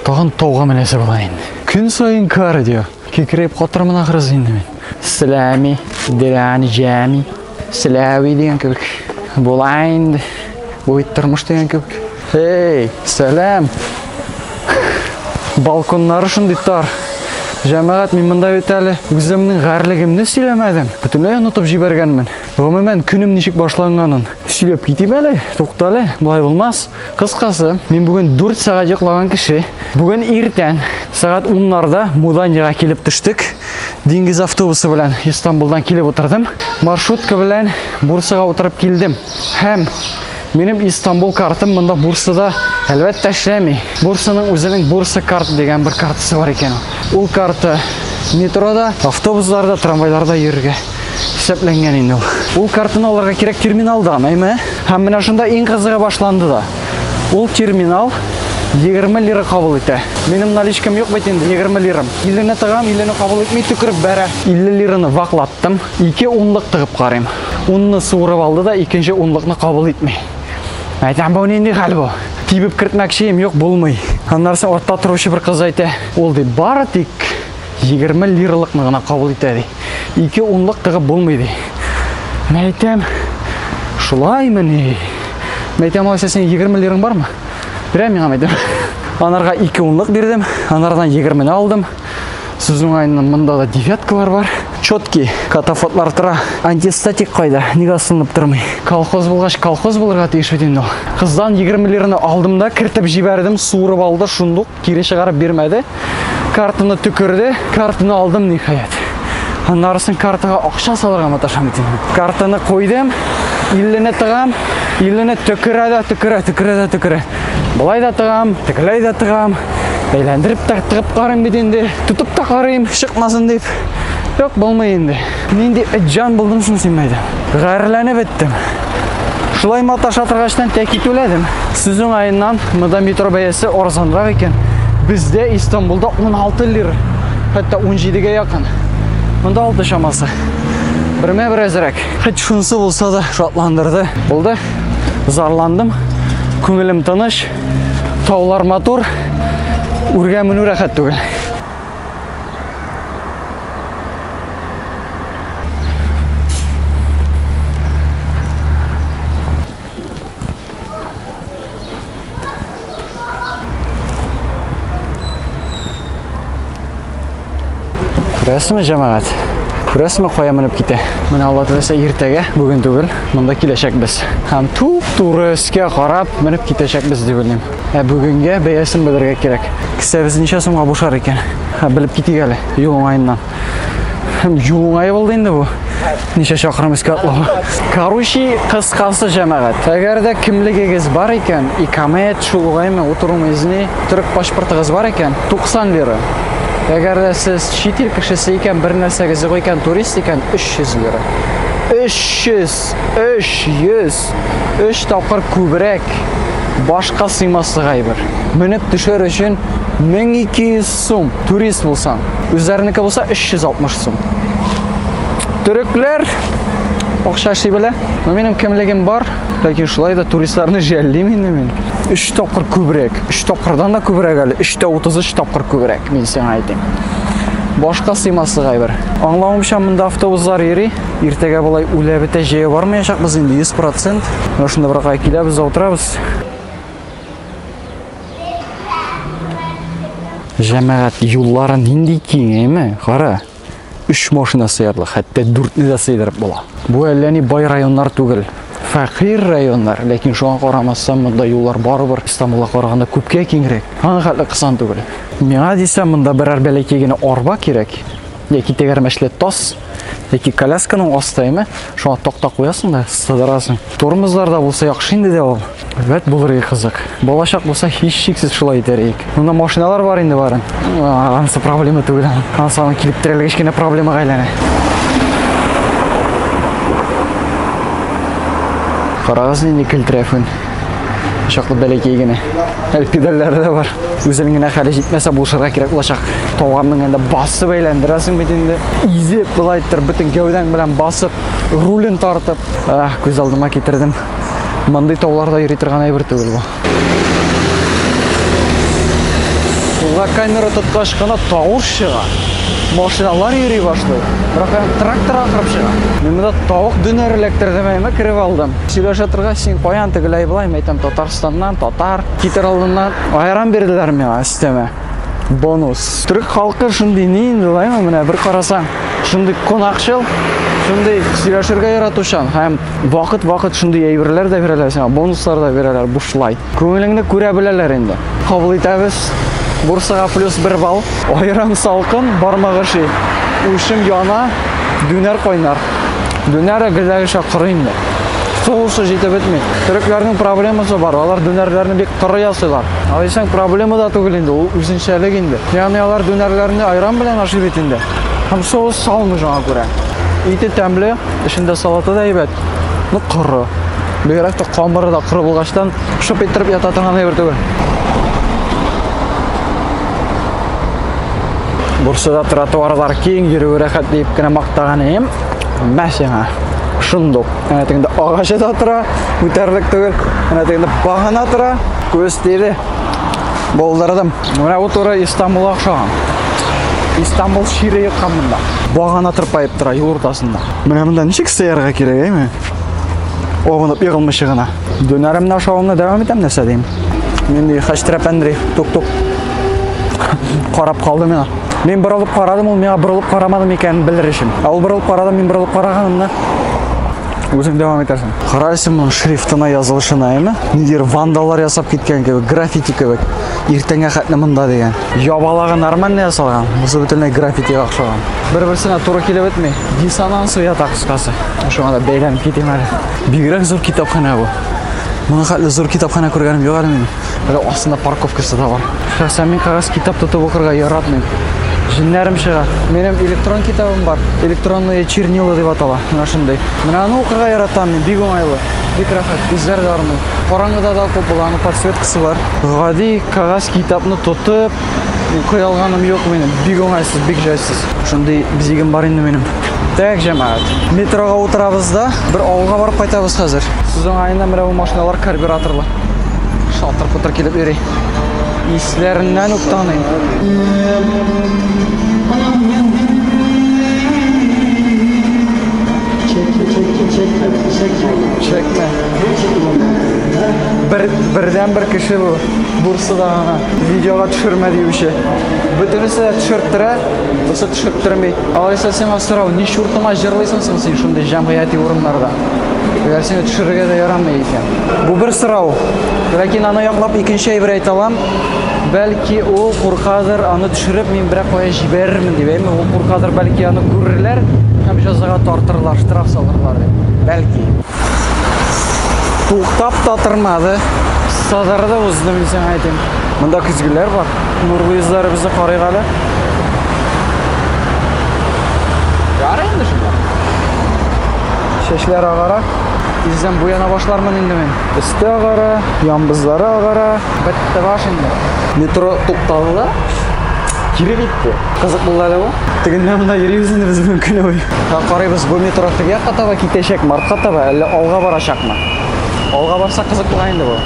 Тагын тауга менәсе була инде. Көн саен кардио. Кикреп катырмын ахрысы инде мин. Сәлами, дирән җәми. Сәләви дигән кебек. Була инде. Бу бит тормыш дигән кебек. Эй, сәлам. Балконнары шундый тар. Җәмәгать, мин монда бит әле үземнең гарлыгымны сөйләмәдем. Бөтенләй онытып җибәргәнмен. Гомумән, көнем ничек башланганын сөйләп китим әле. Туктале, болай булмас. Кыскасы, мин бүген 4 сәгать йоклаган кеше. Бүген иртән сәгать 10-нарда Муданияга килеп төштек. Диңгез автобусы белән Истанбулдан килеп утырдым. Маршрутка белән Бурсага утырып килдем. Һәм минем Истанбул картым монда Бурсада әлбәттә эшләми. Бурсаның үзенең Бурса карт дигән бер картасы бар икән. Ул карта метрода, автобусларда, трамвайларда йөрергә. Исәпләнгән инде ул. Ул картаны алырга кирәк терминалдан, әйме? Һәм менә шунда иң кызыгы башланды да. Ул терминал 20 лира кабул итә. Минем наличкам юк бит инде 20 лирам. 50 не тыгам, 50 не кабул итми төкереп бәрә. 50 лираны ваклаттым. Ике унлык тыгып карыйм. Унны суырып алды да икенче унлыкны кабул итми. Әйтәм, бу нинди хәл бу? Тибеп кертмәкче юк, булмый. Аннары артта торучы бер кыз әйтә, ул ди, бары тик 20 лиралыкны гына кабул итә ди. Ике унлык тыгып булмый ди. Мәйтәм, шулаймы ни? Мәйтәм, алайса синең 20 лираң бармы? Бирә миңа мәйтәм. Анарга ике унлык бирдем, анардан 20 не алдым. Сүз уңаеннан монда да девяткалар бар. Четкий катафотлар тора. Антистатик кайда? Нигә сынып тормый? Колхоз булгач, колхоз булырга тиеш бит инде ул. Кыздан 20 лираны алдым да кертеп җибәрдем, суырып алды шундук. Кире чыгарып бирмәде. Картаны төкерде. Картаны алдым ниһаять. Аннарысын картага акча салырга маташам бит инде. Картаны куйдым. 50-не тыгам. 50-не төкерә дә төкерә, төкерә дә төкерә. Болай да тыгам, тегеләй дә тыгам. Әйләндереп тә тыгып карыйм бит инде. Тотып та карыйм, чыкмасын дип. Юк, булмый инде. Нинди җан булдың соң син мәйдә? Гарьләнеп беттем. Шулай маташ атыргачтан тәки түләдем. Сүз уңаеннан, монда метро бәясе арзанрак икән. Бездә Истанбулда 16 лира, хәтта 17-гә якын. Монда 6 чамасы. Бермә бер әзрәк. Хәт шунысы булса да шатландырды. Булды. Зарландым. Күңелем тыныч. Таулар матур. Үргә менү рәхәт түгел. Күрәсезме, җәмәгать? Күрәсезме, кая менеп китә? Менә Алла теләсә иртәгә, бүген түгел, монда киләчәкбез. Һәм туп-туры өскә карап менеп китәчәкбез дип уйлыйм. Ә бүгенгә бәясен белергә кирәк. Кесәбез ничә сумга бушар икән? Ха, белеп китик әле. Юл уңаеннан. Һәм юл уңае булды инде бу. Ничә чакрым искә атлау. Короче, кыскасы җәмәгать. Әгәр дә кимлегегез бар икән, икамәт, шул уңаймы, утыру мизни, төрек паспортыгыз бар икән, 90 лира. Әгәр дә сез чит ил кешесе икән, бер нәрсәгез юк икән, турист икән, 300 лира. 300! Икс 300 3 тапкыр күбрәк башка сыймаслык әйбер. Менеп төшер өчен 1200 сум турист булсаң, үзләренеке булса 360 сум. Төрекләр акча эшли белә. Но минем кемлегем бар, ләкин шулай да туристларны жәллим инде мин. 3 тапкыр күбрәк, 3 тапкырдан да күбрәк әле, 3 тә 33 тапкыр күбрәк, мин сиңа әйтим. Башка сыймаслык әйбер. Аңлавымча, монда автобуслар йөри. Иртәгә болай үлә бетә җәя бармаячакбыз инде 100%. Менә шунда бер кая киләбез, утырабыз. Җәмәгать юллары нинди киң, әйме? Кара. 3 машина сыярлык, хәтта 4-не дә сыйдырып була. Бу әллә ни бай районнар түгел. Фәкыйр районнар, ләкин шуңа карамастан монда юллар барыбер Стамбулга караганда күпкә киңрәк. Аңа хәтле кысан түгел. Миңа дисәм, монда берәр бәләкәй генә арба кирәк. яки тәгәрмәчле тас яки колясканың астайымы шуңа такта куясың да сыдырасың тормозларда булса яхшы инде дә ул бәт булыр иде кызык балачак булса һичшиксез шулай итәр идек монда машиналар бар инде барын анысы проблема түгел анысы аны килеп терәлгәч кечкенә проблемага әйләнә карагыз нинди көлтрәфен Чаклы бәләкәй генә. Әле педальләре дә бар. Үзенең генә хәле җитмәсә булышырга кирәк булачак. Тауганның инде басып әйләндерәсең бит инде. Изеп болай иттереп бөтен гәүдәң белән басып, рулен тартып. Ах, күз алдыма китердем. Мондый тауларда йөри торган әйбер түгел бу. Сулга камера тоткач кына тавыш чыга. Машиналар йөри башлый. Бірақ трактор ахырып чыга. Мин монда тавык дөнәр эләктердем, әйме кереп алдым. Сөйләшә торгач, син каян тегеләй болай, мәйтәм, Татарстаннан, татар, китер алдыннан айран бирделәр миңа өстәмә. Бонус. Төрек халкы шундый ни инде лайма, менә бер карасаң, шундый кунакчыл, шундый сөйләшергә яратучан һәм вакыт-вакыт шундый әйберләр дә бирәләр сиңа, бонуслар да бирәләр бушлай. Күңелеңне күрә беләләр инде. Кабул итәбез. Бурсага плюс бер балл. Аерым салкын, бармак ошый. Учым яна, дүнәр кайнар. Дүнәр әгелдәгечә коры инде. Сугышы җитеп бетми. Төрекләрнең проблемасы бар, алар дүнәрләрне бик коры ясыйлар. Ә дисәң, проблема да түгел инде, ул үзенчәлек инде. Ягъни алар дүнәрләрне айран белән ашый бит инде. Һәм соус салмый шуңа күрә. Ите тәмле. Эчендә салаты да әйбәт, но коры. Бигрәк тә камыры да коры булгачтан шып иттереп ята торган әйбер түгел. Бурсада тротуарлар киң, йөрү рәхәт дип кенә мактаган идем. Мә сиңа. Шундук. Әнә тегендә агачы да тора, күтәрелек түгел. Әнә тегендә багана тора, күз тиде. Болдырдым. Менә бу туры Истанбул охшаган. Истанбул шире йоткан монда. Багана тырпаеп тора юл уртасында. Менә монда ничек сыярга кирәк, әйме? Огынып егылмышы гына. Дөнәремне ашавымны дәвам итәм нәрсә дим. Нинди хәчтерәпәндри, тук-тук. Карап калды мина. Мин борылып карадым, ул миңа борылып карамады микән белер өчен. Ә ул борылып карады, мин борылып караганымны Үзең дәвам итәсең. Карайсың моның шрифтына язылышына, әйме? Нидер вандаллар ясап киткән кебек, граффити кебек. Иртәнгә хәтле монда дигән. Ябалагы нормально ясалган. Бусы бөтенләй граффитига охшаган. Бер-берсенә туры килеп бетми. Диссонанс уята такскасы. Шуңа да бәйләнеп китим әле. Бигрәк зур китапханә бу. Моның хәтле зур китапханә күргәнем юк әле минем. Әле астында парковкасы да бар. Шәхсән мин кагаз китап тотып укырга яратмыйм. Җеннәрем чыга. Минем электрон китабым бар. Электронные чернила дип атала. Менә шундый. Менә аны укырга яратам мин. Бик уңайлы. Бик рәхәт. Үзләр дә армый. Караңгыда да укып була, аның подсветкасы бар. Гади кагаз китапны тотып, укый алганым юк минем. Бик уңайсыз, бик җайсыз. Шундый бизигем бар инде минем. Так, җәмәгать. Метрога утырабыз да, бер авылга барып кайтабыз хәзер. Сез уңаенда менә бу машиналар карбюраторлы. Шалтыр-путыр килеп йөри. Исләреннән үк таныйм. Чекме? Бер, бердән бер кеше бу. Бурсада гына видеога төшермә диюче. Бөтенесе дә төшерттірә, бусы төшерттірмей. Алайса сиңа сорау, ни чуртыңа җырлыйсың соң син шундый җәмгыяти урыннарда? Әгәр сине төшерергә дә ярамый икән. Бу бер сорау. Ләкин аны яклап икенче әйбер әйтә алам. Бәлки ул куркадыр, аны төшереп мин берәк кая җибәрермен дип. Әйме ул куркадыр, бәлки аны күрерләр һәм җәзага тартырлар, штраф салырлар дип. Бәлки. Туктап та тормады. Садары да узды, мин сиңа әйтим. Монда көзгеләр бар. Нурлы йөзләребезне карыйк әле. Ярый инде шунда. Чәчләр агара. Тиздән буяна башлармын инде мин. Өсте агара, ямбызлары агара. Бетте баш инде. Метро тукталды да. Кире китте. Кызык булды әле бу. Тегеннән монда йөрибез инде без бүген көне буе. Карыйбыз, бу метро теге якка таба китәчәк, мартка таба, әллә алга барачакмы? Алга барса кызык була инде бу.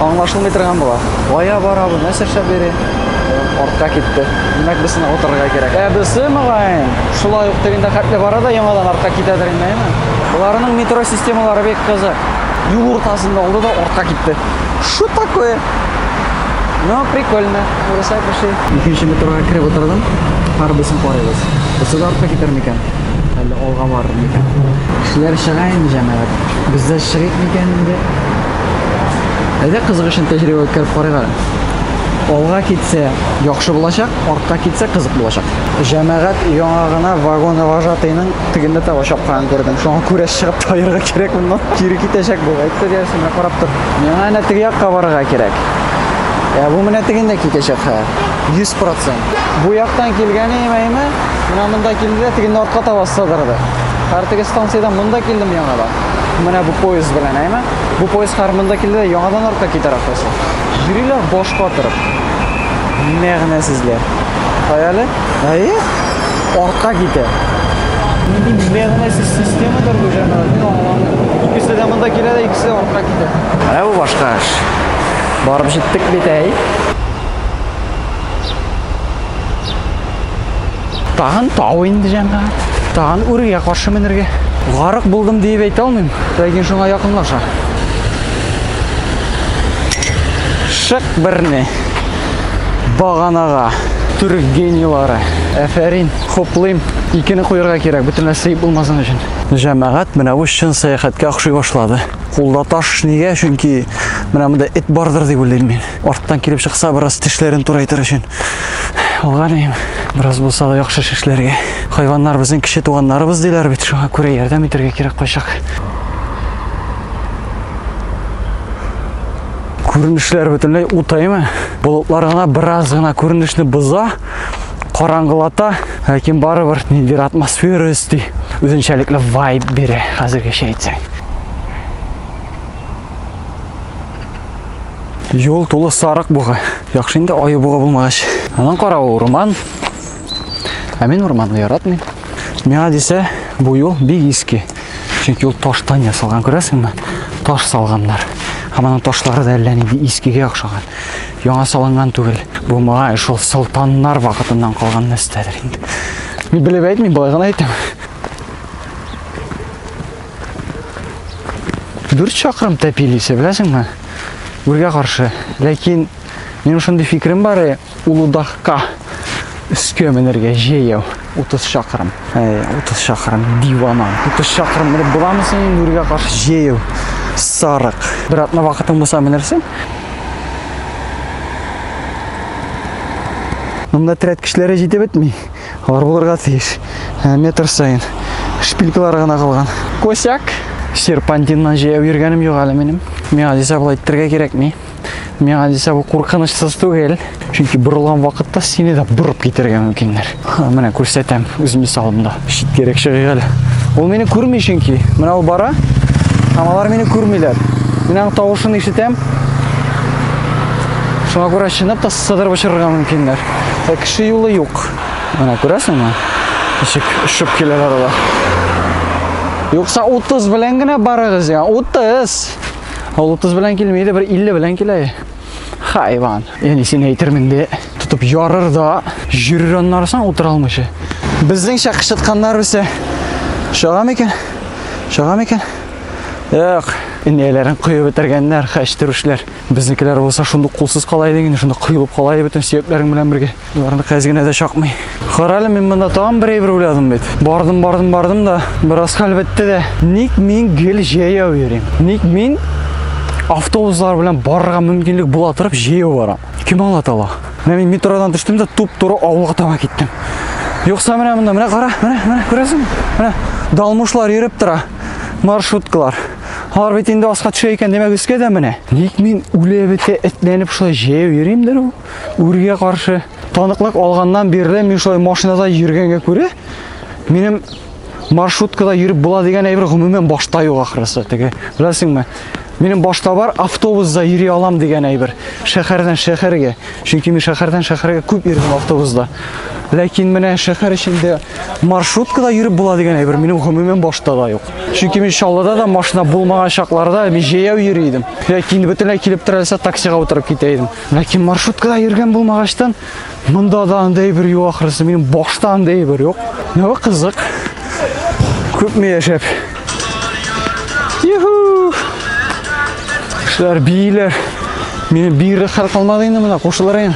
Аңлашылмый торган була. Кая бара бу? Нәрсә эшләп йөри? Артка китте. Димәк, без сынап утырырга кирәк. Ә бесе мөгаен, шулай ук тегендә хәтле бара да яңадан артка китәдер инде, әйме? Боларның метро системалары бик кызык. Юл уртасында алды да артка китте. Что такое? Ну, прикольно. Урыслар пошли. Икенче метрога кереп утырдым. Һәрбесен карыйбыз. Берсе дә артка китәр микән? Әллә алга барыр микән? Кешеләр чыга инде, җәмәгать. Без дә чыгыйк микән инде? Әйдә кызык өчен тәҗрибә үткәреп карыйк әле. Алга китсә яхшы булачак, артка китсә кызык булачак. Җәмәгать яңа гына вагон вожатыйның тегендә таба чапканын күрдем. Шуңа күрә чыгып таярга кирәк моннан. Кире китәчәк бу. Әйтте диясен, менә карап тор. Миңа әнә теге якка барырга кирәк. Ә бу менә тегендә китәчәк хәер. 100%. Бу яктан килгәне имәйме, менә монда килде дә тегендә артка таба сыдырды. Хәер теге станциядән монда килдем яңада. Менә бу поезд белән, әйме? Бу поезд хәер монда килде дә яңадан артка китәр ахрысы. Йөриләр баш катырып. Мәгънәсезләр. Хәяле? Әйе. Артка китә. Нинди мәгънәсез системадыр бу җәмәгать, мин аңламыйм. Икесе дә монда килә дә, икесе дә артка китә. Ә бу башка эш. Барып җиттек бит, әй. Тагын тау инде җәмәгать. Тагын үргә каршы менергә. Гарык булдым диеп әйтә алмыйм, ләкин шуңа якынлаша. Шык берне баганага түрек генийлары. Әфәрин, хуплыйм. Икене куярга кирәк, бөтенләй сыеп булмасын өчен. Җәмәгать менә бу чын сәяхәткә охшый башлады. Кулда таш нигә? Чөнки менә монда эт бардыр дип уйлыйм мин. Арттан килеп чыкса, бераз тешләрен турайтыр өчен. Алганем, бераз булса да яхшы шешләргә. Хайваннар безнең кеше туганнарыбыз диләр бит, шуңа күрә ярдәм итәргә кирәк кайчак. Күренешләр бөтенләй утаймы? Болытлар гына бераз гына күренешне боза, караңгылата, ләкин барыбер ниндидер атмосфера өсти, үзенчәлекле вайб бирә хәзергечә әйтсәң. Юл тулы сарык буга. Яхшы инде аю буга булмагач. Анан кара ул урман. Ә мин урманны яратмыйм. Миңа дисә, бу юл бик иске. Чөнки ул таштан ясалган, күрәсеңме? Таш салганнар. Һәм аның ташлары да әллә нинди искегә охшаган. Яңа салынган түгел. Бу моңа шул солтаннар вакытыннан калган нәрсәдер инде. Мин белеп әйтмим, былай гына әйтәм. 4 чакрым тәпил исә, беләсеңме? Үргә каршы. Ләкин минем шундый фикерем бар, э, Улудахка өскә менергә җәяү 30 чакрым. Әй, 30 чакрым дивана. 30 чакрым менеп буламы соң инде үргә каршы җәяү? Сарык. Бер атна вакытың булса менерсең. Монда терәткечләре җитеп бетми. Бар булырга тиеш. Ә, метр саен. Шпилькалары гына калган. Косяк. Серпантиннан җәяү йөргәнем юк әле минем. Миңа дисә болай иттергә кирәкми. Миңа дисә бу куркынычсыз түгел. Чөнки борылган вакытта сине дә борып китергә мөмкиннәр. Менә күрсәтәм үз мисалымда. Читкәрәк чыгыйк әле. Ул мине күрми чөнки. Менә ул бара. Һәм алар мине күрмиләр. Мин аның тавышын ишетәм. Шуңа күрә чынлап та Сыдырып очырырга мөмкиннәр. Ә кеше юлы юк. Менә күрәсеңме? Ничек шып киләләр алар. Юкса 30 белән генә барыгыз дигән. 30. Ул 30 белән килми иде, бер 50 белән килә. Хайван. Яни син әйтермен дә тотып ярыр да, җөрер аннары соң утыра алмыйча. Безнеңчә кычытканнар үсә. Шага микән? Шага микән? Юк. Инәйләрен коеп бетергәннәр, хәчтерүшләр. Безнекеләр булса шундук кулсыз кала иде инде, шунда коелып кала иде бөтен сөякләрең белән бергә. Боларны кәз генә дә чакмый. Карале, мин монда тагын бер әйбер уйладым бит. Бардым, бардым, бардым да, бераз хәл бетте дә. Ник мин гел җәяү йөрим? Ник мин автобуслар белән барырга мөмкинлек була торып җәяү барам? Кем аңлата ала? Менә мин метродан төштем дә туп-туры авылга таба киттем. Юкса менә монда, менә кара, менә, менә күрәсең? Менә далмушлар йөреп тора. Маршруткалар. Алар бит инде аска төшә икән, димәк өскә дә менә. Ник мин үле бетә этләнеп шулай җәяү йөримдер ул? Үргә каршы таныклык алганнан бирле мин шулай машинада йөргәнгә күрә, минем маршруткада йөреп була дигән әйбер гомумән башта юк ахрысы. Теге, беләсеңме? Минем башта бар автобусда йөри алам дигән әйбер. Шәһәрдән шәһәргә. Чөнки мин шәһәрдән шәһәргә күп йөрдем автобусда. Ләкин менә шәһәр эчендә маршруткада йөреп була дигән әйбер минем гомумән башта да юк. Чөнки мин Чаллыда да машина булмаган чакларда мин җәяү йөри идем. Ләкин бөтенләй килеп терәлсә таксига утырып китә идем. Ләкин маршруткада йөргән булмагачтан монда да андай бер юк ахрысы. Минем башта андай бер юк. Нәвә кызык. Күпме яшәп. Юху! Шулар бийләр. Минем бигрәк хәл калмады инде монда кушылырын.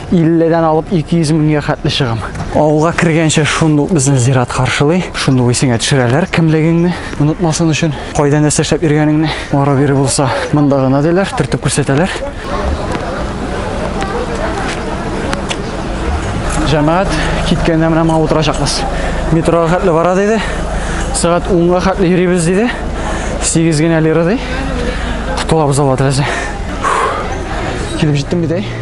50-дән алып 200 меңгә хәтле чыгам. Авылга кергәнчә шундук безне зират каршылый. Шундук исеңә төшерәләр кемлегеңне, онытмасын өчен, кайда нәрсә эшләп йөргәнеңне. Ара бире булса, монда гына диләр, төртеп күрсәтәләр. Җәмәгать киткәндә менә моңа утырачакбыз. Метрога хәтле бара диде. Сәгать 10-га хәтле йөрибез диде. 8 генә лира ди. Котылабыз алла теләсә. Килеп җиттем бит, әй.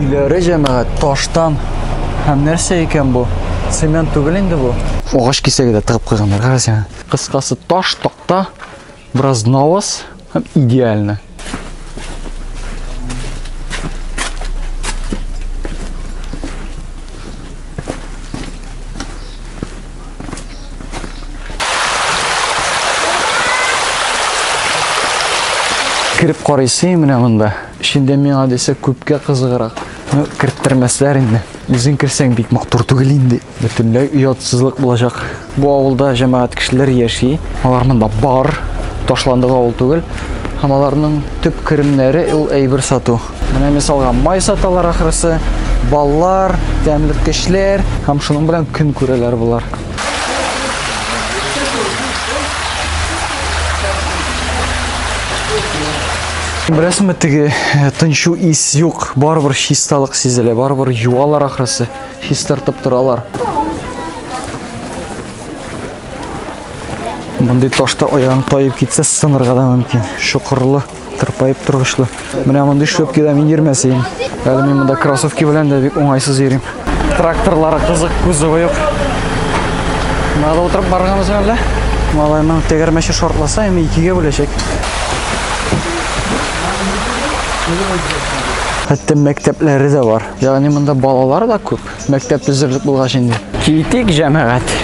Иләре җәмәгать таштан һәм нәрсә икән бу? Цемент түгел инде бу. Агач кисәге дә тыгып куйганнар, карас яна. Кыскасы таш, такта, бераз наваз һәм идеально. Кереп карыйсы менә монда. Эчендә миңа дисә күпкә кызыграк. Ну, керттермәсләр инде. Үзең керсәң бик матур түгел инде. Бөтенләй оятсызлык булачак. Бу авылда җәмәгать кешеләр яши. Алар монда бар. Ташландык авыл түгел. Һәм аларның төп керемнәре ул әйбер сату. Менә мисалга май саталар ахрысы, баллар, тәмлеккечләр һәм шуның белән көн күрәләр болар. Беләсеңме, теге э, тынчу ис юк, барыбер чисталык сизелә, барыбер юалар ахрысы, чистартып торалар. Мондый ташта аягың тайып китсә, сынырга да мөмкин. Шокырлы. Тырпаеп торгычлы. Менә мондый шлепкида мин йөрмәсәем. Әле мин монда кроссовки белән дә бик уңайсыз йөрим. Тракторлары кызык, кузовы юк. Надо утырып барганбыз әллә? Малайның тегермәче шортласа, әмма икегә бүләчәк. Хәтта мәктәпләре дә бар. Ягъни монда балалар да күп. Мәктәп төзерлек булгач инде. Китик, җәмәгать.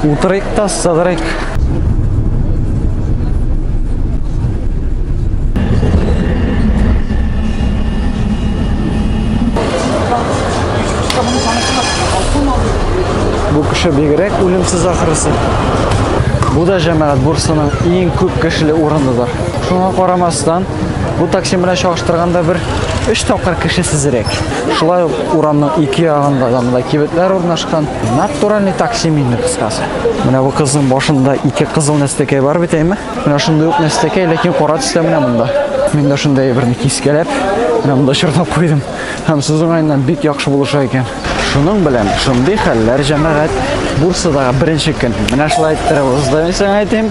Утырыйк та сыдырыйк. Бу кеше бигрәк үлемсез ахрысы. Бу да җәмәгать бурсының иң күп кешеле урыныдыр. Шуңа карамастан, бу такси белән чагыштырганда бер 3 тапкыр кешесезрәк. Шулай ук урамның ике ягында да мындай кибетләр урнашкан. Натуральный такси мин кыскасы. Менә бу кызның башында ике кызыл нәстәкәй бар бит әйме. Менә шундый ук нәстәкәй, ләкин кара төстә менә монда. Мин дә шундый берне кискәләп, менә монда чорнап куйдым. Һәм сүз уңаеннан бик яхшы булыша икән. Шуның белән шундый хәлләр җәмәгать Бурсадагы беренче көн. Менә шулай иттереп узды, мин сиңа әйтим.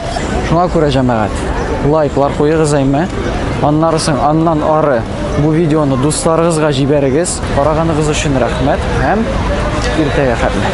Шуңа күрә җәмәгать. Лайклар куегыз әйме. Аннары соң аннан ары Бу видеоны дусларыгызга җибәрегез. Караганыгыз өчен рәхмәт һәм иртәгә хәтле.